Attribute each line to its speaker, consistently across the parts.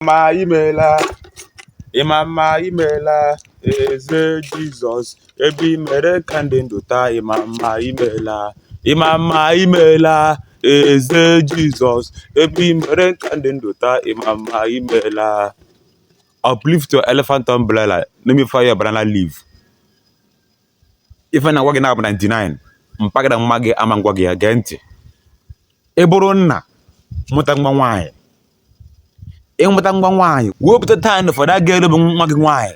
Speaker 1: mma imela ịma mma imela eze jizọs ebe i mere ka m dị ndụ taa ịma mma imela ịma mma imela eze jizọs ebe i mere ka m dị ndụ taa ịma mma imela uplift your elephant umbrella let me fire your banana leaf ife m na-agwa gị na-abụ 99 mpaghara mma gị ama m gwa gị ya gee ntị ị bụrụ nna mụta nwa nwaanyị ị mụta nwa nwaanyị wepụta time for that girl bụ nwa gị nwaanyị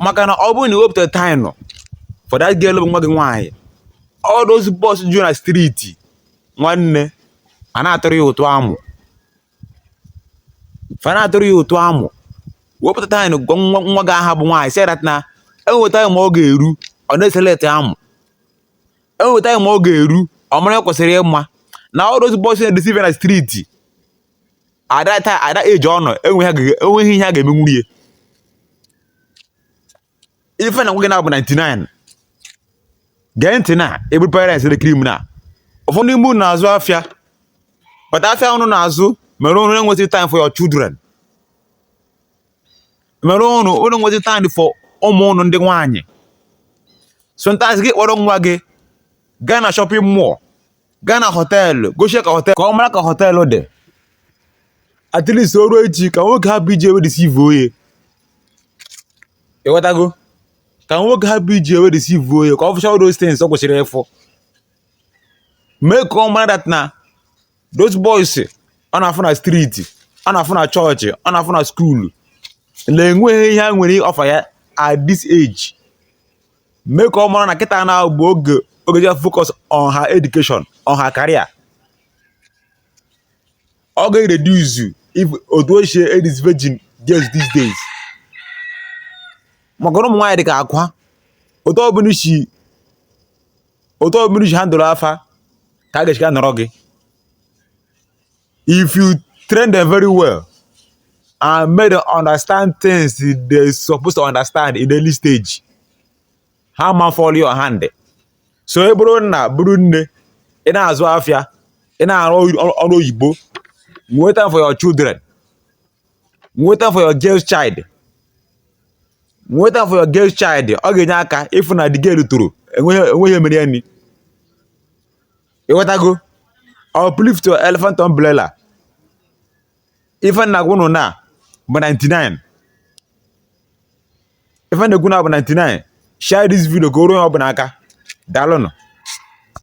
Speaker 1: maka na ọ bụrụ na i wepụta time for that girl bụ nwa gị nwaanyị all those boys ju na street nwanne a na-atụrụ ya ụtụ amụ fa na-atụrụ ya ụtụ amụ wepụta time gwa nwa gị aha bụ nwaanyị sị that na enwe time ọ ga-eru ọ na-eselect amụ enwere time ọ ga-eru ọ mara kwesịrị ịma na all those boys na-edeceive ya na street at that age ọ nọ enweghị ihe ha ga-emenwuru ya ife m na-agwa gị na-abụ 99 gee ntị na ebu parents dị criminal ụfọdụ ime ụnụ na-azụ afịa but afịa ụnụ na-azụ mere ụnụ enwezi time for your children mere ụnụ enwezi time for ụmụ ụnụ ndị nwaanyị sometimes gị kpọrọ nwa gị gaa na shopping mall gaa na họteelụ gosi ya ka họteelụ ka ọ mara ka họteelụ dị at least o ruo echi ka nwoke hapụ iji ya wee deceivuo ya ịghọtago ka nwoke hapụ iji ya wee deceivuo ya ka ọ fụcha all those things ọ kwesịrị ịfụ mee ka ọ mara that na those boys ọ na-afụ na street ọ na-afụ na chọọchị ọ na-afụ na skuulu na enweghị ihe ha nwere offer ya at this age mee ka ọ mara na kịta na ọ bụ oge ọ ga-eji focus on her education on her career ọ ga-reduce otu e si edisvirgin girls these days maka na ụmụ nwaanyị dị ka akwa otu ọ bụla i si otu ọ bụla i si handle fa ka a ga-echika nọrọ gị if you train them very well and make them understand things they supposed to understand in early stage ha ma fall your hand so ị bụrụ nna bụrụ nne ị na-azụ afịa ị na-arụ ọrụ oyibo nwee time for your children nwee time for your girl child nwee time for your girl child ọ ga-enye aka ịfụ na the girl toro enweghị ihe mere ya nụ ịghọtago uplift your elephant umbrella ife m na-agwa ụnụ na-abụ 99 ife m na-ekwu na-abụ 99 share this video ka o ruo onye ọbụla aka daalụnụ